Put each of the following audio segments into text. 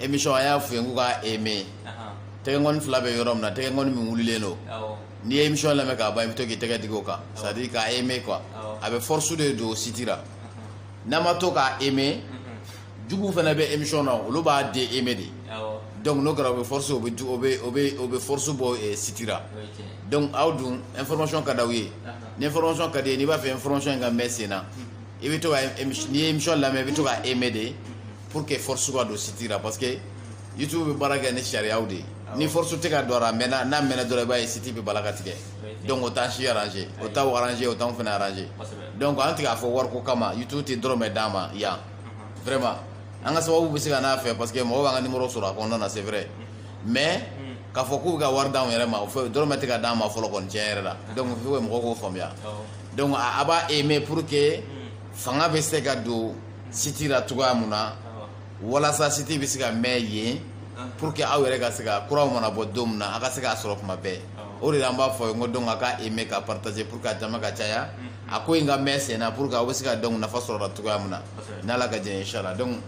emission a y'a fɔ ye k'u ka aimer tɛgɛkɔni fila bɛ yɔrɔ min na tɛgɛkɔni min wulilen don n'i ye emission lamɛn k'a ban i bɛ to k'i tɛgɛ digi o kan c'est à dire k'a aimer quoi a bɛ force de don siti la n'a ma to k'a aimer juguw fana bɛ emission na olu b'a de aimer de donc n'o kɛra o bɛ force o bɛ o bɛ o bɛ o bɛ force bɔ eh, siti la donc aw dun information ka d'aw ye ni information ka d'i ye n'i b'a fɛ information in ka mɛn sen na i bɛ to ka n'i ye emission lamɛn i bɛ to k'a aimer de pour que force ka don siti la parce que youtube bɛ baara kɛ ni sariyaw de ye ni force tɛ ka don a mɛnna n'a mɛnna dɔrɔn i b'a ye siti bɛ bala ka tigɛ donc o t'an si arranger o t'aw arranger o t'anw fana arranger donc an tɛ k'a fɔ wariko kama youtube tɛ dɔrɔmɛ d'an ma yan vraiment an ka sababu bɛ se ka n'a fɛ parce que mɔgɔ b'an ka nimɔrɔ sɔrɔ a kɔnɔna na c'est vrai mais k'a fɔ k'u bɛ ka wari d'anw yɛrɛ ma o fɛ dɔrɔmɛ tɛ ka d'an ma fɔlɔ kɔni tiɲɛ yɛrɛ la donc il faut que mɔgɔw k'o faamuya donc a b'a aimer pour que fanga bɛ se ka don siti la cogoya min na walasa siti bɛ se ka mɛn yen pour que aw yɛrɛ ka se ka kuraw mana bɔ don min na a ka se k'a sɔrɔ kuma bɛɛ o de la an b'a fɔ n ko donc a ka aimer ka partager pour que a jama ka caya a ko in ka mɛn sen na pour que aw bɛ se ka donc nafa sɔrɔ a la cogoya min na n'ala ka jɛn inchallah donc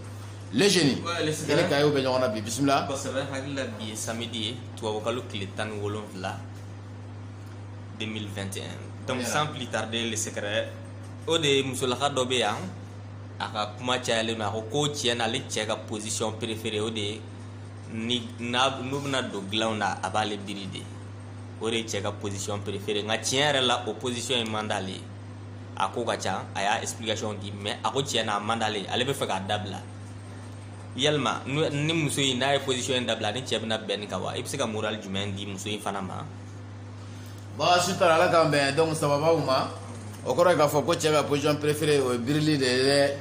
le jeune i ni kayew bɛ ɲɔgɔn na bi bisimila kosɛbɛ hakili la bi ye samedi ye tubabukalo tile tan ni wolonwula 2021 donc sans plus tarder le secret o de musolaka dɔ bɛ yan a ka kuma cayalen don a ko ko tiɲɛ na ale cɛ ka position préférée o de ye ni n'a n'u bɛna don dilanw na a b'ale biri de o de ye cɛ ka position préférée nka tiɲɛ yɛrɛ la o position in man d'ale ye a ko ka ca a y'a explication di mais a ko tiɲɛ na a man d'ale ye ale bɛ fɛ k'a dabila yalima n'u- ni muso in n'a ye position in dabila ni cɛ bɛna bɛn nin kan wa i bɛ se ka moral jumɛn di muso in fana ma baasi t'a la ala k'an bɛn donc sababaw ma o kɔrɔ ye k'a fɔ ko cɛ ka position préférée o ye birili de ye dɛ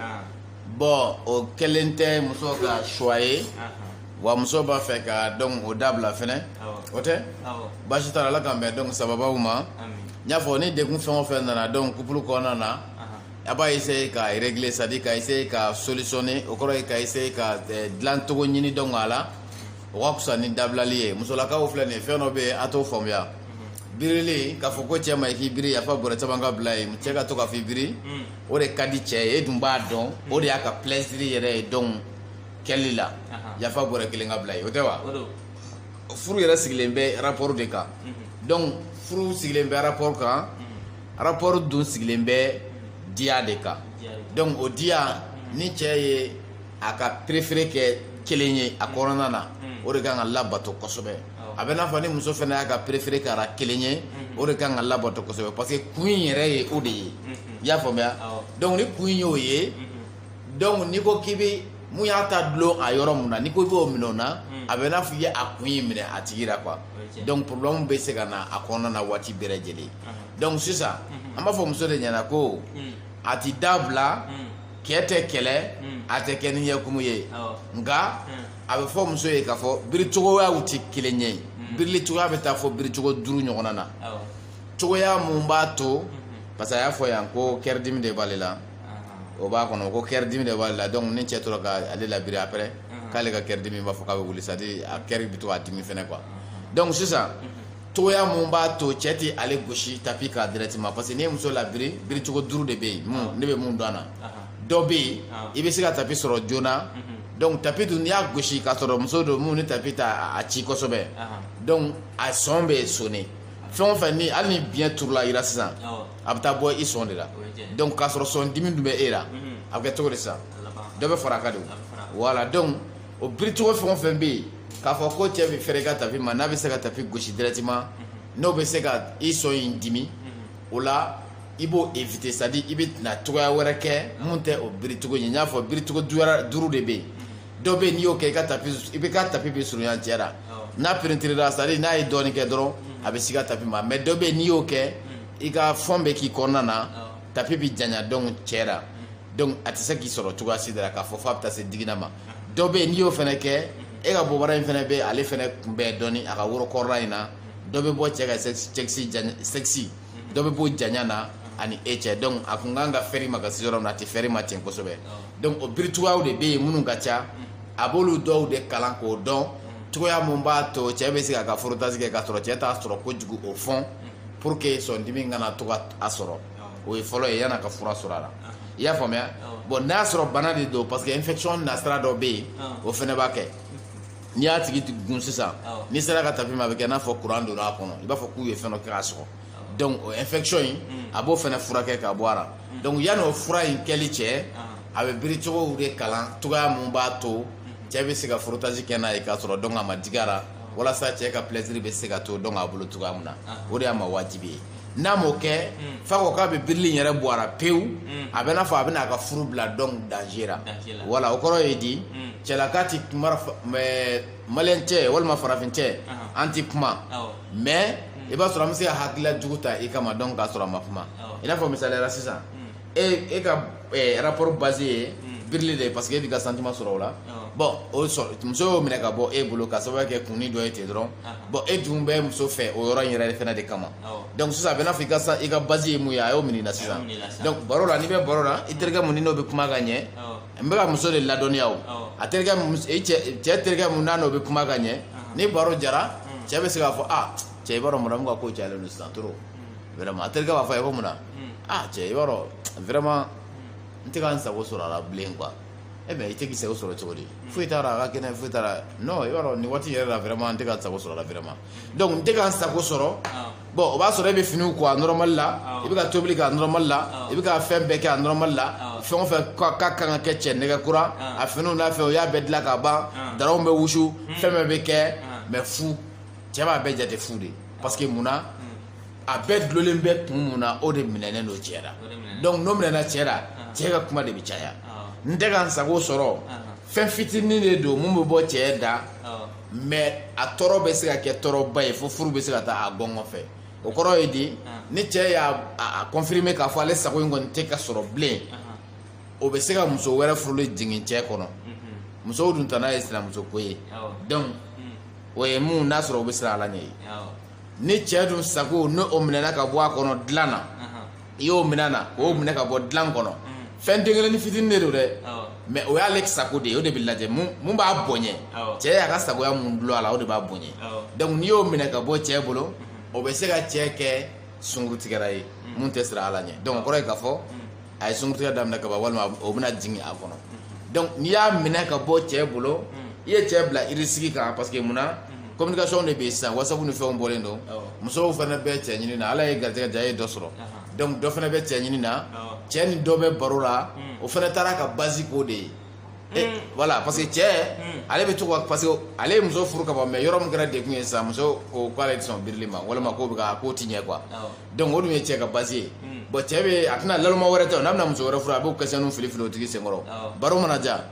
bon o kelen tɛ muso ka choix ye wa muso b'a fɛ ka donc o dabila fɛnɛ o tɛ baasi t'a la ala k'an bɛn donc sababaw ma n y'a fɔ ni degun fɛn o fɛn nana donc couple kɔnɔna na a b'a essayer k'a régler c'est à dire ka essayer k'a solutionner o kɔrɔ ye ka essayer k'a dilan cogo ɲini donc a la o ka fisa ni dabilali ye musolakaw filɛ nin ye fɛn dɔ bɛ yen a t'o faamuya birili k'a fɔ ko cɛ ma i k'i biri yafa bɔrɛ caman ka bila ye cɛ ka to k'a fɔ i biri o de ka di cɛ ye e dun b'a dɔn o de y'a ka plaisir yɛrɛ ye donc kɛli la yafa bɔrɛ kelen ka bila ye o tɛ wa furu yɛrɛ sigilen bɛ rapport de kan donc furu sigilen bɛ rapport kan rapport dun sigilen bɛ diya de kan donc o diya ni cɛ ye a ka préféré kɛ kelen ye a kɔnɔna na hmm. o de kan ka labato kosɛbɛ oh. a bɛ n'a fɔ ni muso fana y'a ka préféré kɛra kelen ye hmm. o de kan ka labato kosɛbɛ parce que kun in yɛrɛ ye o de ye hmm. i y'a faamuya oh. donc ni kun in y'o ye donc n'i ko k'i bɛ mun y'a ta dulon a yɔrɔ mun na n'i ko i b'o minɛ o na a bɛ n'a fɔ i ye a kun in minɛ a tigi la quoi donc problème bɛ se ka na a kɔnɔna na waati bɛɛ lajɛlen uh-huh. donc sisan an b'a fɔ muso de ɲɛna ko a ti dabila cɛ tɛ kɛlɛ a tɛ kɛ ni ɲɛkumu ye nka a bɛ fɔ muso ye k'a fɔ biri cogoyaw tɛ kelen ye birili cogoya bɛ taa fɔ biri cogo duuru ɲɔgɔnna na cogoya mun b'a to parce que a y'a fɔ yan ko kɛridimi de b'ale la o b'a kɔnɔ ko kɛridimi de b'ale la donc ni cɛ tora ka ale labiri après k'ale ka kɛridimi b'a fɔ k'a bɛ wuli c'est à dire a kɛri bɛ to k'a dimi fɛnɛ quoi donc sisan cogoya mun b'a to cɛ tɛ ale gosi tapi kan directement parce que ni muso labiri biricogo duuru de bɛ yen ah. ne bɛ mun dɔn a na ah. dɔ bɛ yen ah. i bɛ se ka tapi sɔrɔ joona mhm. donc tapi dun n'i y'a gosi k'a sɔrɔ muso don mun ni tapi ta a ci kosɛbɛ donc a sɔn bɛ sonne fɛn o fɛn ni hali ni biɲɛ turula i la sisan a bɛ taa bɔ i sɔn de la donc k'a sɔrɔ sɔn dimi tun bɛ e la mhm. a bɛ kɛ cogo di sisan dɔ bɛ fara a kan de voilà donc o biricogo fɛn o fɛn bɛ yen k'a fɔ ko cɛ bɛ fɛrɛ i ka tapi ma n'a bɛ se ka tapi gosi directement n'o bɛ se ka i sɔn in dimi o la i b'o éviter c'est à dire i bɛ na cogoya wɛrɛ kɛ mun tɛ o biricogo ye n y'a fɔ biricogo duuru de bɛ yen dɔ bɛ yen n'i y'o kɛ i bɛ ka tapi bɛ surunya cɛ la n'a pénétréra c'est à dire n'a ye dɔɔnin kɛ dɔrɔn a bɛ s'i ka tapi ma mais dɔ bɛ yen n'i y'o kɛ i ka fond bɛ k'i kɔnɔna na tapi bɛ janya donc cɛ la donc a tɛ se k'i sɔrɔ cogoya si de la k'a fɔ f'a bɛ taa se digina ma. dɔ bɛ yen n'i y'o fana kɛ e ka bobara in fana bɛ ale fana kunbɛn dɔɔni a ka woro kɔrɔla in na dɔ bɛ bɔ cɛ ka sexe dɔ bɛ bɔ janya na ani e cɛ donc a kun kan ka fɛrɛ i ma ka se yɔrɔ min na a tɛ fɛrɛ i ma ten kosɛbɛ donc o biricogow de bɛ yen minnu ka ca a b'olu dɔw de kalan k'o dɔn cogoya mun b'a to cɛ bɛ se k'a ka frottage kɛ k'a sɔrɔ cɛ t'a sɔrɔ kojugu au fond pour que sɔndimi kana to ka a sɔrɔ o ye fɔlɔ ye yann'a ka fura sɔrɔ a la i y'a faamuya bon n'a y'a sɔrɔ bana de don parce que infection nasira dɔ bɛ yen o fɛnɛ b'a kɛ n'i y'a tigi gun sisan n'i sera ka tapi ma a bɛ kɛ n'a fɔ kuran donna a kɔnɔ i b'a fɔ k'u ye fɛn dɔ kɛ k'a sɔgɔ donc o infection in mm. a b'o fɛnɛ furakɛ ka bɔ a la mm. donc yanni o fura in kɛli cɛ a bɛ biri cogow de kalan cogoya mun b'a to mm. cɛ bɛ se ka frottage kɛ n'a ye k'a sɔrɔ donc a ma digi a la walasa cɛ ka plaisir bɛ se ka to donc a bolo cogoya mun na o de y'a ma wajibi ye n'a m'o kɛ mm. f'a ko k'a bɛ birili in yɛrɛ bɔ a la pewu mm. a bɛ n'a fɔ a bɛna a ka furu bila donc danger la voilà o kɔrɔ ye di mm. cɛlaka tɛ kuma maliyɛn cɛ walima farafin cɛ an tɛ kuma mais i b'a sɔrɔ an bɛ se ka hakilila jugu ta i kama donc k'a sɔrɔ a ma kuma i n'a fɔ misali la sisan e e ka eh, rapport base ye hmm. birili de ye parce que e b'i ka sentiment sɔrɔ o la bon o sɔrɔ muso y'o minɛ ka bɔ e bolo ka sababu kɛ kunni dɔ ye ten dɔrɔn bon e dun bɛ muso fɛ o yɔrɔ in yɛrɛ fana de kama donc sisan a bɛ n'a fɔ i ka i ka base ye mun ye a y'o minɛ i la sisan donc baro la n'i bɛ baro la i terikɛ mun ni n'o bɛ kuma ka ɲɛ n bɛ ka muso de ladɔnniya o a terikɛ e cɛ cɛ terikɛ mun n'a n'o bɛ kuma ka ɲɛ ni baro diyara cɛ bɛ se k'a fɔ ah cɛ i b'a dɔn madamu ka ko cayalen don sisan trop vraiment a terikɛ b'a fɔ a ye ko mun na ah cɛ i b'a dɔn vraiment n tɛ ka n sago sɔrɔ a la bilen quoi e mais i tɛ k'i sago sɔrɔ cogo di foyi t'a la a ka kɛnɛ foyi t'a la non i b'a dɔn nin waati yɛrɛ la vraiment n tɛ ka n sago sɔrɔ a la vraiment donc n tɛ ka n sago sɔrɔ bon o b'a sɔrɔ e bɛ finiw ko a normal la i bɛ ka tobili kɛ a normal la i bɛ ka fɛn bɛɛ kɛ a normal la fɛn o fɛn k'a ka kan ka kɛ cɛ nɛgɛ kura a finiw n'a fɛnw o y'a bɛɛ dilan ka ban daraw bɛ wusu fɛn bɛɛ bɛ kɛ mais fu cɛ b'a bɛɛ jate fu de ye parce que mun na a bɛɛ dulonlen bɛ kun mun na o de minɛnen don cɛ la donc n'o minɛna cɛ la cɛ ka kuma de bɛ caya n tɛ ka n sago sɔrɔ fɛn fitinin de don mun bɛ bɔ cɛ da mais a tɔɔrɔ bɛ se ka kɛ tɔɔrɔba ye fo furu bɛ se ka taa a gɔngɔn fɛ o kɔrɔ ye di ni cɛ y'a confirmer k'a fɔ ale sago in kɔni tɛ ka sɔrɔ bilen o bɛ se ka muso wɛrɛ furuli jigin cɛ kɔnɔ musow dun tana ye sinamuso ko ye donc o ye mun n'a sɔrɔ o bɛ siran ala ɲɛ ye ni cɛ dun sago ni o minɛna ka bɔ a kɔnɔ dilan na i y'o minɛ a na k'o minɛ ka bɔ dilan kɔnɔ fɛn den kelennin fitinin de don dɛ mais o y'ale sago de ye o de bɛ lajɛ mun b'a bonya cɛ y'a ka sagoya mun dulon a la o de b'a bonya donc n'i y'o minɛ ka bɔ cɛ bolo o bɛ se ka cɛ kɛ sunkurutigɛra ye mun tɛ siran ala ɲɛ donc o kɔrɔ ye k'a fɔ a ye sunkurutigɛ daminɛ ka ban walima o bɛna jigin a kɔnɔ donc n'i y'a minɛ ka bɔ cɛ bolo i ye cɛ bila irisigi kan parce que munna communication de bɛ yen sisan wasapu ni fɛnw bɔlen don musow fana bɛ cɛ ɲini na ala ye garijɛgɛ diya a ye dɔ sɔrɔ donc dɔ fana bɛ cɛ ɲini na cɛ ni dɔ bɛ baro la o fana taara ka base k'o de ye Eh, mm. voilà parce que cɛ mm. ale bɛ to ka parce que ale ye muso furu ka ban mais yɔrɔ min kɛra degun ye sisan muso ko k'ale tɛ sɔn birili ma walima k'o bɛ ka k'o tɛ ɲɛ quoi Donc o ye cɛ ka base ye bon cɛ bɛ a tɛna naloma wɛrɛ ta n'a bɛna muso wɛrɛ furu a b'o questionniw fili fili o tigi senkɔrɔ baro mana diya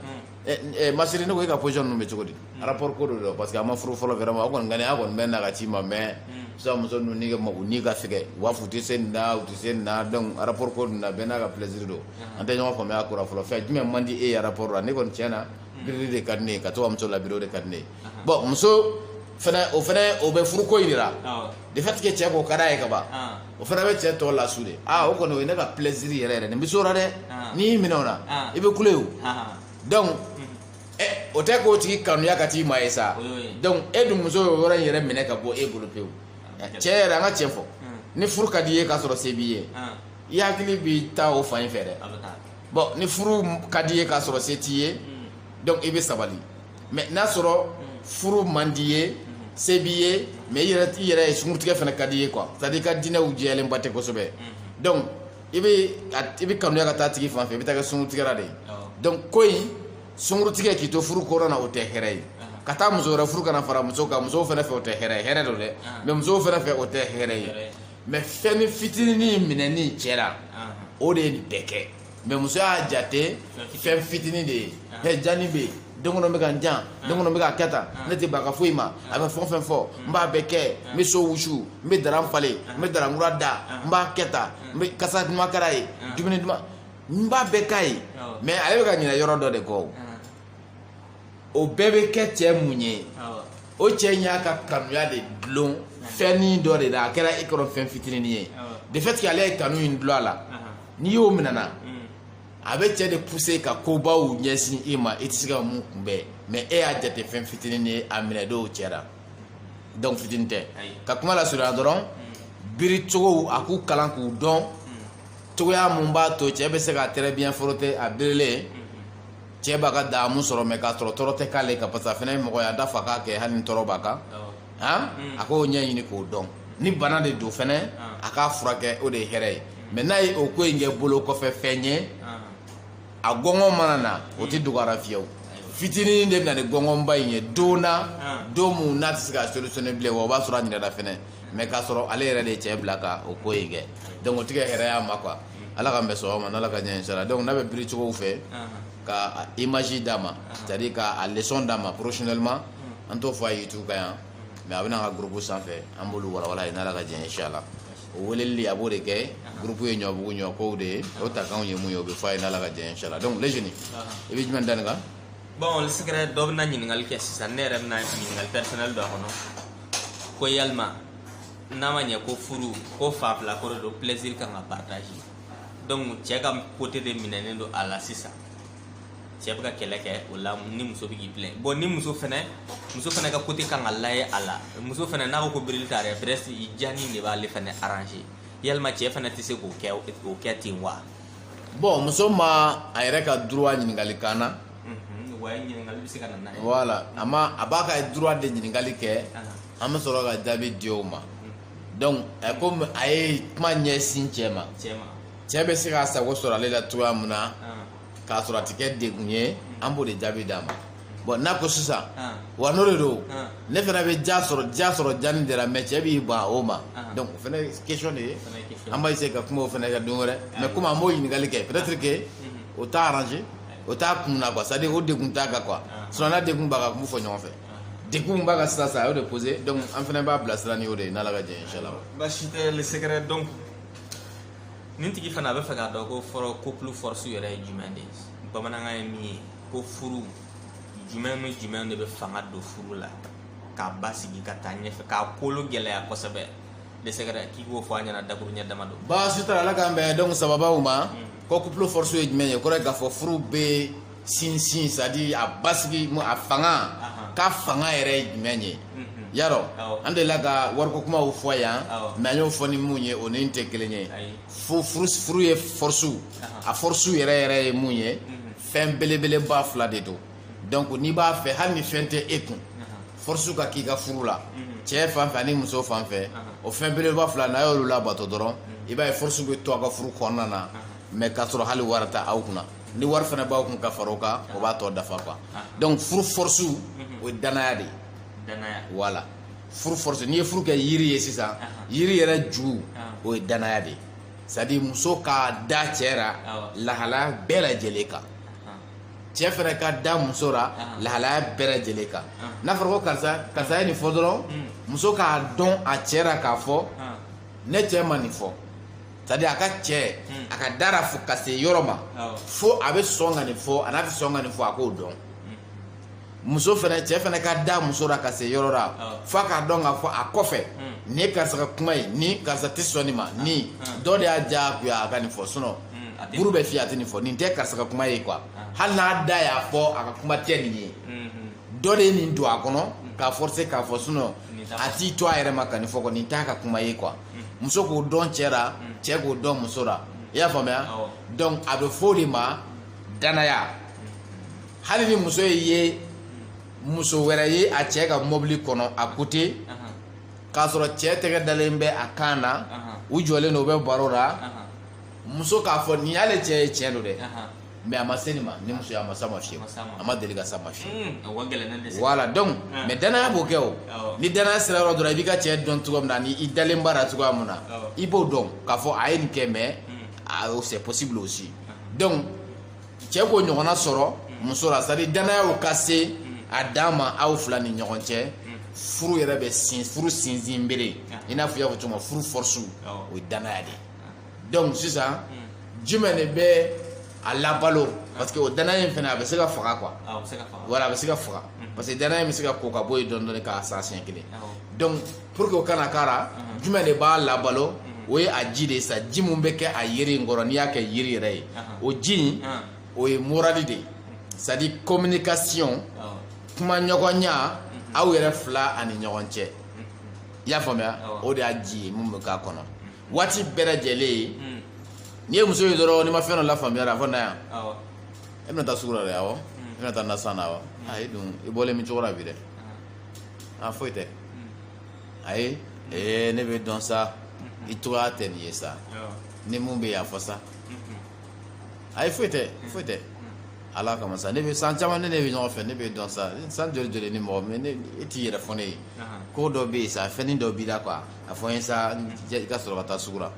ma chérie ne ko e ka position ninnu bɛ cogo di rapport ko de don parce que a ma furu fɔlɔ vraiment a kɔni a kɔni bɛ na ka ci ma mais sisan muso ninnu ni ka fɛgɛn u b'a fɔ u tɛ se nin na u tɛ se nin na donc rapport ko ninnu na bɛɛ n'a ka plaisir don an tɛ ɲɔgɔn faamuya a ko la fɔlɔ fɛn jumɛn man di e ye rapport la ne kɔni tiɲɛ na birili de ka di ne ye ka to ka muso labiri o de ka di ne ye bon muso o fana o bɛ furuko jira de fait que cɛko ka d'a ye ka ban o fana bɛ cɛ tɔ lasu de aa o kɔni o ye ne ka plaisir yɛrɛ yɛrɛ nin bɛ s'o la dɛ n'i y'i minɛ o la i bɛ kule o donc ɛ o tɛ k'o tigi kanuya ka t'i ma ye sa donc e dun muso y'o yɔrɔ in yɛrɛ minɛ ka bɔ e bolo pewu cɛ yɛrɛ an ka cɛn fɔ ni furu ka di i ye k'a sɔrɔ se b'i ye i hakili b'i ta o fan in fɛ dɛ bon ni furu ka di i ye k'a sɔrɔ se t'i ye donc i bɛ sabali mais n'a sɔrɔ furu man di ye se b'i ye mais i yɛrɛ i yɛrɛ sunkurutigɛ fana ka di ye quoi c'est à dire i ka diinɛw jɛyalenba tɛ kosɛbɛ donc i bɛ i bɛ kanuya ka taa tigi fan fɛ i bɛ taa kɛ sunkurutigɛla de ye donc ko in sunkurutigɛ k'i to furu kɔnɔna na o tɛ hɛrɛ ye ka taa muso wɛrɛ furu ka na fara muso kan musow fana fɛ o tɛ hɛrɛ ye hɛrɛ don dɛ mais musow fana fɛ o tɛ hɛrɛ ye mais fɛnnin fitinin minɛni cɛ la o de ye nin bɛɛ kɛ mais muso y'a jate fɛn fitinin de ye ɛ jani bɛ yen dɛ n kɔnɔ bɛ ka n jan dɛ n kɔnɔ bɛ ka kɛ tan ne tɛ ban a ka foyi ma a bɛ fɛn o fɛn fɔ n b'a bɛɛ kɛ n bɛ so wusu n bɛ daran falen n bɛ daran kura da n b'a kɛ tan n bɛ kasa duman kɛ a ye dumuni duman n b'a bɛɛ k'a ye mais ale bɛ ka ɲinɛ yɔrɔ dɔ de kɔ o o bɛɛ bɛ kɛ cɛ mun ye o cɛ in y'a ka kanuya de dulon fɛnnin dɔ de la a kɛra e kɔrɔ fɛn fitinin ye de fait que ale ye kanu in dulon a la n'i y'o minɛ a na mm. a bɛ cɛ de pousser ka kobaw ɲɛsin i ma i tɛ se ka mun kunbɛn mais e y'a jate fɛn fitinin ye a minɛ dɔw cɛ la donc fitinin tɛ ka kuma lasurunya dɔrɔn mm. biri cogow a k'u kalan k'u dɔn mm. cogoya mun b'a to cɛ bɛ se ka très bien frotter a birilen mm-hmm. cɛ b'a ka daamu sɔrɔ mais k'a sɔrɔ tɔɔrɔ tɛ k'ale kan parce que a fana ye mɔgɔ ye an t'a fɔ a k'a kɛ hali ni tɔɔrɔ b'a kan a k'o ɲɛɲini k'o dɔn ni bana de don fana a k'a furakɛ o de ye hɛrɛ ye mais n'a ye o ko in kɛ bolo kɔfɛ fɛn ye a gɔngɔn mana na o tɛ dogo a la fiyewu fitinin de bɛna ni gɔngɔnba in ye don na don min na a tɛ se ka solutionner bilen wa o b'a sɔrɔ a ɲinɛna fana mais k'a sɔrɔ ale yɛrɛ de ye cɛ bila ka o ko in kɛ donc o tɛ kɛ hɛrɛ y'a ma quoi ala k'an bɛn sɔgɔma n'ala ka diɲɛ inchallah donc n'a bɛ biri cogow fɛ ka image d'a ma c'est à dire ka leçon d'a ma professionnellement an t'o fɔ a ye youtube kan yan mais a bɛ na an ka groupe sanfɛ an b'olu walawala n'ala ka diɲɛ inchallah o weleli a b'o de kɛ groupe ye ɲɔbugu ɲɔ kow de ye o takanw ye mun ye o bɛ fɔ a ye n'ala ka diɲɛ inchallah donc les jeunes i bɛ jumɛn da nin kan bon secret dɔ bɛna ɲininkali kɛ sisan ne yɛrɛ bɛna ɲininkali personnel dɔ kɔnɔ ko yalima n'a ma ɲɛ ko furuko fan fila ko de don plaisir kan ka partager donc cɛ ka côté de minɛnen don a la sisan cɛ bɛ ka kɛlɛ kɛ o la ni muso bɛ k'i plɛn bon ni muso fɛnɛ muso fɛnɛ ka côté kan ka lajɛ a la muso fɛnɛ n'a ko ko birili ta yɛrɛ presque i jani de b'ale fɛnɛ arranger yalima cɛ fɛnɛ tɛ se k'o kɛ o kɛ ten wa bon muso ma a yɛrɛ ka droit ɲininkali k'an na voilà a ma a b'a ka droit de ɲininkali kɛ an bɛ sɔrɔ ka jaabi di o ma donc comme a ye kuma ɲɛsin cɛ ma cɛ bɛ se k'a sago sɔrɔ ale la cogoya min na k'a sɔrɔ a tɛ kɛ degun ye an b'o de jaabi d'a ma bon n'a ko sisan wa n'o de don ne fana bɛ diya sɔrɔ diya sɔrɔ jani de la mais cɛ b'i ban o ma donc o fana question de ye an b'a essayer ka kuma o fana kɛ don wɛrɛ mais comme an b'o ɲininkali kɛ peut être que o t'a arranger o t'a kun na quoi c'est à dire o degun t'a kan quoi sinon n'a degun b'a kan a tun b'o fɔ ɲɔgɔn fɛ degun b'a kan sisan a y'o de poser donc an fana b'a bilasira ni o de ye n'ala ka jɛ inshallah baasi tɛ le secret donc nin tigi fana a bɛ fɛ k'a dɔn ko fɔlɔ couple force yɛrɛ ye jumɛn de ye bamanankan ye min ye ko furu jumɛn ni jumɛn de bɛ fanga don furu la k'a basigi ka taa ɲɛfɛ k'a kolo gɛlɛya kosɛbɛ le secret k'i k'o fɔ an ɲɛna dakuruɲɛ dama don baasi t'a la ala k'an bɛn donc sababaw ma ko couple force ye jumɛn ye o kɔrɔ ye k'a fɔ furu bɛ sinsin c'est à dire a basigi a fanga ka fanga yɛrɛ ye jumɛn ye yarɔ an delila ka wariko kumaw fɔ yan mais an y'o fɔ ni mun ye o ni tɛ kelen ye furu ye force a force yɛrɛ yɛrɛ ye mun ye fɛn belebeleba fila de don donc n'i b'a fɛ hali ni fɛn tɛ e kun force ka k'i ka furu la cɛ fan fɛ ani muso fan fɛ o fɛn belebeleba fila n'a y'olu labato dɔrɔn i b'a ye force bɛ to a ka furu kɔnɔna na mais k'a sɔrɔ hali wari tɛ aw kunna ni wari fana b'aw kun ka fara o kan o b'a tɔ dafa quoi donc furu force o ye danaya de ye danaya voilà furu force n'i ye furu kɛ yiri ye sisan yiri yɛrɛ ju o ye danaya de ye c'est à dire muso ka da cɛ ra lahalaya bɛɛ lajɛlen kan cɛ fɛnɛ ka da muso ra lahalaya bɛɛ lajɛlen kan n'a fɔra ko karisa karisa ye nin fɔ dɔrɔn muso k'a dɔn a cɛ ra k'a fɔ ne cɛ ma nin fɔ c'est à dire a ka cɛ hmm. a ka d'a ra fo ka se yɔrɔ ma fo a bɛ sɔn ka nin fɔ an'a tɛ sɔn ka nin fɔ a k'o dɔn hmm. muso fɛnɛ cɛ fɛnɛ ka da muso ra ka se yɔrɔ la f'a k'a dɔn k'a fɔ a kɔfɛ hmm. nin ye karisa ka kuma ye ni karisa tɛ sɔn nin ma ni dɔ de y'a diyagoya a ka nin fɔ sinon buru bɛ fiyɛ a tɛ nin fɔ nin tɛ karisa ka kuma ye quoi hali n'a da y'a fɔ a ka kuma tɛ nin ye. dɔ de ye nin don a kɔnɔ k'a forcer k'a fɔ sinon a t'i to a yɛrɛ ma ka nin fɔ quoi nin t'a ka kuma ye quoi muso k'o dɔn cɛ ra cɛ k'o dɔn muso ra i y'a faamuya donc a bɛ fɔ o de ma danaya hali ni muso ye muso wɛrɛ ye a cɛ ka mɔbili kɔnɔ a côté k'a sɔrɔ cɛ tɛgɛ dalen bɛ a kan na u jɔlen don u bɛ baro la muso k'a fɔ nin y'ale cɛ ye tiɲɛ don dɛ mais a ma se nin ma ni muso ye a ma s'a ma fiyewu a ma deli ka s'a ma fiyewu mm, voilà donc ah. mais danaya b'o kɛ o ni danaya sera yɔrɔ dɔrɔn i b'i ka cɛ dɔn cogo min na ni i dalen b'a ra cogoya min na i b'o dɔn k'a fɔ a ye nin kɛ mais mm. c'est possible aussi ah. donc cɛ k'o ɲɔgɔnna sɔrɔ mm. muso la c'est à dire danaya ka se a dan ma aw fila ni ɲɔgɔn cɛ furu yɛrɛ bɛ sin furu sinsin bere ah. i n'a fɔ i y'a fɔ cogo min furu force o ye danaya de ye donc sisan jumɛn de bɛ a labalo parce que o danaya in fana a bɛ se ka faga quoi voilà a bɛ se ka faga parce que danaya in bɛ se ka ko ka bɔ yen dɔɔnin dɔɔnin ka sa siɲɛ kelen donc pour que o kana k'a ra jumɛn de b'a labalo o ye a ji de ye sa ji min bɛ kɛ a yiri in kɔrɔ n'i y'a kɛ yiri yɛrɛ ye o ji in o ye morali de ye c'est à dire communication kuma ɲɔgɔnya aw yɛrɛ fila ani ɲɔgɔn cɛ i y'a faamuya o de y'a ji ye min bɛ k'a kɔnɔ waati bɛɛ lajɛlen hmm. n'i ye muso ye dɔrɔn n'i ma fɛn dɔ lafaamuya a fɔ na yan e bɛna taa sugu la dɛ awɔ hmm. e bɛna taa nasan na awɔ hmm. ayi dun i bɔlen bɛ cogo la bi dɛ a ah, foyi tɛ ayi ee ne b'i dɔn sa i cogoya tɛ nin ye sa ni mun bɛ yan fɔ sa ayi foyi tɛ foyi tɛ ala kama sa ne bɛ san caman ne ne bɛ ɲɔgɔn fɛ ne b'i dɔn sa san joli joli ni mɔgɔ mɛ ne e t'i yɛrɛ fɔ ne ye ko dɔ bɛ yen sa fɛnnin dɔ b'i la quoi a fɔ n ye sa i ka sɔrɔ ka taa sugu la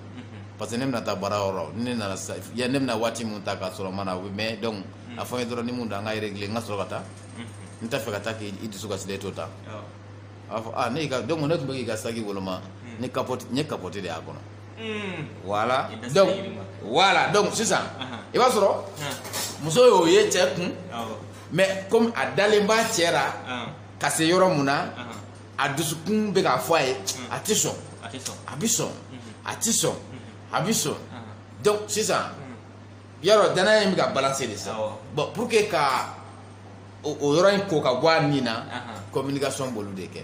parce que ne bɛna taa baara yɔrɔ ne nana sa ya ne bɛna waati min ta k'a sɔrɔ n ma na o bɛ mɛn donc a fɔ n ye dɔrɔn ni mun don an ka régler n ka sɔrɔ ka taa n t'a fɛ ka taa k'i dusukasilen to tan a b'a fɔ aa ne y'i ka donc ne tun bɛ k'i ka saki woloma ni capote n ye capote de y'a kɔnɔ voilà donc voilà donc sisan i b'a sɔrɔ muso y'o ye cɛ kun mais comme a dalen b'a cɛ la ka se yɔrɔ min na a dusukun bɛ k'a fɔ a ye a tɛ sɔn a bɛ sɔn a tɛ sɔn a bɛ sɔn donc sisan yarɔ danaya in bɛ ka balancer de sa bon pour que ka o yɔrɔ in ko ka bɔ a nin na communication b'olu de kɛ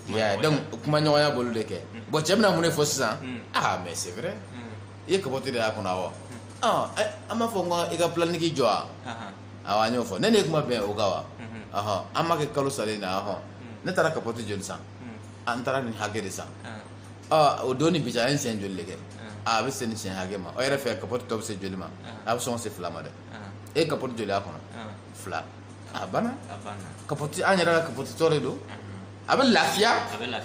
yeah, donc kuma ɲɔgɔnya b'olu de kɛ bon cɛ bɛna mun de fɔ sisan ah mais c'est vrai i ye capote de y'a kɔnɔ awɔ an b'a fɔ n ko i ka planning jɔ wa awa an y'o fɔ ne n'e kuma bɛn o kan wa ɔhɔ an ma kɛ kalo salen na ɔhɔ ne taara kapɔti joli san an taara nin hakɛ de san ɔ o don ni bi cɛ an ye siɲɛ joli de kɛ a bɛ se nin siɲɛ hakɛ ma o yɛrɛ fɛ kapɔti tɔ bɛ se joli ma a bɛ sɔn ka se fila ma dɛ e ye kapɔti joli y'a kɔnɔ fila a banna kapɔti an yɛrɛ ka kapɔti tɔ de don a bɛ lafiya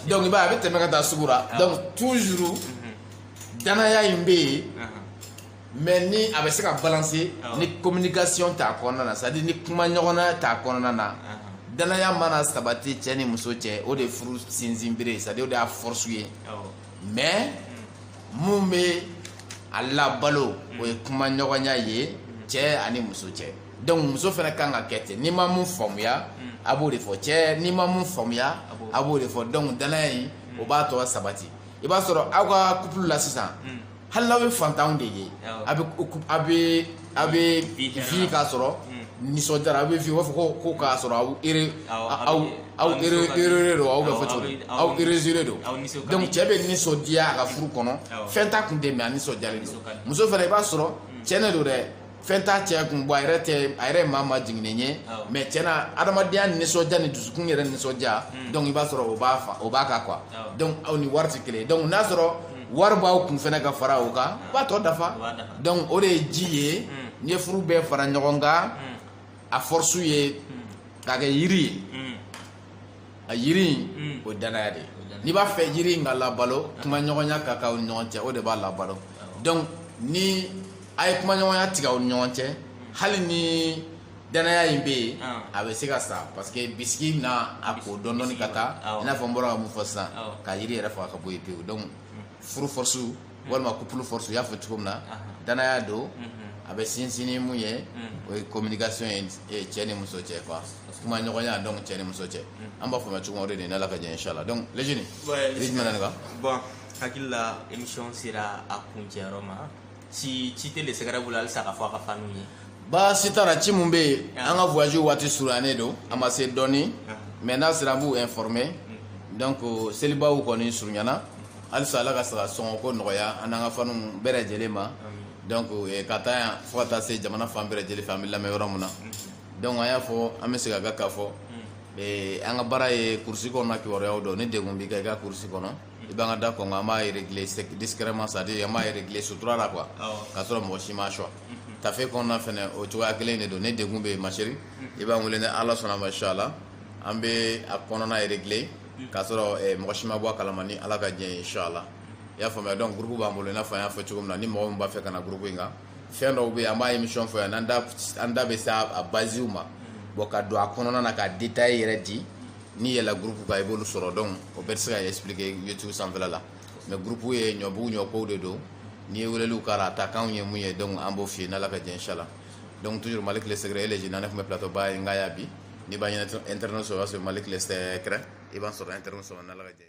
donc i b'a ye a bɛ tɛmɛ ka taa sugu la donc toujours danaya in bɛ yen. mais ni a bɛ se ka balancer ni communication t'a kɔnɔna na c'est à dire ni kuma ɲɔgɔnya t'a kɔnɔna na danaya mana sabati cɛ ni muso cɛ o de ye furu sinsin bere ye c'est à dire o de y'a force ye mais mun bɛ a labalo o ye kuma ɲɔgɔnya ye cɛ ani muso cɛ donc muso fana kan ka kɛ ten n'i ma mun faamuya a b'o de fɔ cɛ n'i ma mun faamuya a b'o de fɔ donc danaya in o b'a tɔ sabati i b'a sɔrɔ aw ka couple la sisan hali n'aw ye fantanw de ye a bɛ a bɛ a bɛ vivre k'a sɔrɔ nisɔndiyara a bɛ vivre u b'a fɔ ko ko k'a sɔrɔ aw heureux aw aw heureux don aw bɛ fɔ cogo aw heureuse de don donc cɛ bɛ nisɔndiya a ka furu kɔnɔ fɛn t'a kun tɛ mais a nisɔndiyalen don muso fana i b'a sɔrɔ tiɲɛ don dɛ fɛn t'a cɛ kun bɔ a yɛrɛ tɛ a yɛrɛ ye maa majiginnen ye mais tiɲɛ na adamadenya nisɔndiya ni dusukun yɛrɛ nisɔndiya hmm. donc i b'a sɔrɔ o b'a fa o b'a ka quoi donc aw ni waritigi kelen donc n'a sɔrɔ hmm. wari b'aw kun fana ka fara o kan o b'a tɔ dafa donc o de ye ji ye hmm. n'i ye furu bɛɛ fara ɲɔgɔn kan a force ye k'a kɛ yiri ye a yiri in mm. o danaya de n'i b'a fɛ yiri in ka labalo kuma ɲɔgɔnya ka k'aw ni ɲɔgɔn cɛ o de b'a labalo donc ni a ye kuma ɲɔgɔnya tigɛ aw ni ɲɔgɔn cɛ hali ni danaya in bɛ yen a bɛ se ka sa parce que bisiki na a ko dɔɔni dɔɔni ka taa i n'a fɔ n bɔra ka mun fɔ sisan ka yiri yɛrɛ faga ka bɔ yen pewu donc furu force walima couple force y'a fɔ cogo min na danaya don a bɛ sinsin ni mun ye o ye communication ye cɛ ni muso cɛ quoi kuma ɲɔgɔnya don cɛ ni muso cɛ an b'a fɔ cogo de nin ala ka jɛn inchallah donc lec bon hakili la émission sera a kuncɛyɔrɔ ma si ci tɛ le secret bolo halisa ka fɔ a ka fanu ye baasi t'a la ci min bɛ yen an ka voyage waati surunyalen don a ma se dɔɔnin mais n'a sera an b'u informer donc seliba kɔni surunyana halisa ala ka saga sɔngɔko nɔgɔya an n'an ka fanu bɛɛ lajɛlen ma donc eh, ka taa yan fo ka taa se jamana fan bɛɛ lajɛlen fɛ an bɛ lamɛn yɔrɔ min na donc an y'a fɔ an bɛ segin a kan k'a fɔ eh, an ka baara ye kurusi kɔnɔna kibaruyaw don ni degun b'i kan i ka kurusi kɔnɔ i b'an ka da kɔnkɔn an b'a régler sec- discrètement c'est à dire an b'a régler sutura la quoi Awɔ. k'a sɔrɔ mɔgɔ si m'a sɔn tafe kɔnɔna fɛnɛ o cogoya kelen de don ni degun bɛ yen ma chérie i b'an wele ni ala sɔnna ma inchallah an bɛ a kɔnɔna régler k'a sɔrɔ eh, mɔgɔ si ma bɔ a kalama ni ala ka jɛn ye inshallah i y'a faamuya donc groupe b'an bolo i n'a fɔ an y'a fɔ cogo min na ni mɔgɔ min b'a fɛ ka na groupe in kan fɛn dɔw bɛ yen an b'a émission fɔ yan an da bɛ se a basiw ma bon ka don a kɔnɔna na ka détail yɛrɛ di n'i yɛlɛla groupe kan i b'olu sɔrɔ donc o bɛɛ tɛ se ka expliquer youtube sanfɛla la mais groupe ye ɲɔbugu ɲɔkow de don n'i ye weleli k'a la a taakan ye mun ye donc an b'o f'i ye n'ala ka jɛn inshallah donc toujours Malick le secret e le jina ne tun bɛ plateau ba in kan yan bi n'i b'a ɲinina internet sɔrɔ i b'a sɔrɔ Malick le secret i b'an sɔrɔ internet sɔrɔ n'Ala ka jɛn ye